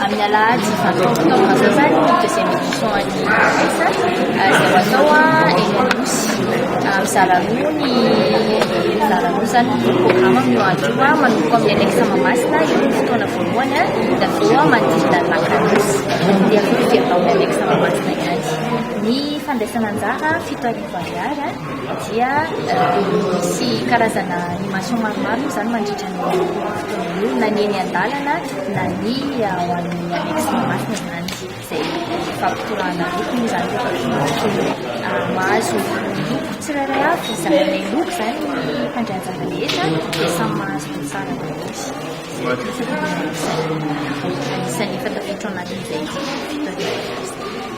Amin'ny alahady vingt trois octobre izao izany ny deuxième édition an'ny Cosesa izay ho atao eny Anosy. Mizara roa ny mizara roa izany ny programme amin'io andro io, manomboka amin'ny annexe Mahamasina io ny fotoana voalohany dia avy eo manodidina ny lac Anosy dia avy eo fijery tao amin'ny annexe Mahamasina ihany. Ny fandraisana anjara fito arivo ariary dia misy karazana animation maromaro moa izany mandritra ny. ny olona ny eny an-dalana na ny ao amin'ny annexe Mahamasina izany izay fampitorahana loko moa izany rehefa voamasina. Ah, mahazo ny loko tsirairay avy izany ilay loko izany ny mpandrahajana rehetra dia samy mahazo ny tsara rehetra. Isan'ny efa tafiditra ao anatin'izay fitaovana.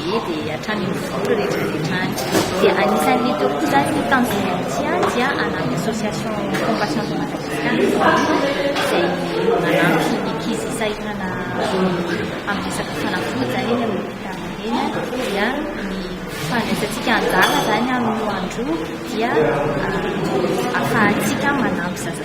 Ie dia hatrany amin'ny voly rehetra rehetra any. Dia anisan'ny teo koa izany ny tanjon'ny Ancia dia hanampy association Compassion de Madagascar izay manampy ny ankizy sahirana amin'ny resaka fanafody izany eny amin'ny hopitaly eny dia ny fandraisantsika anjara izany amin'ny andro dia ahafahantsika manampy zaza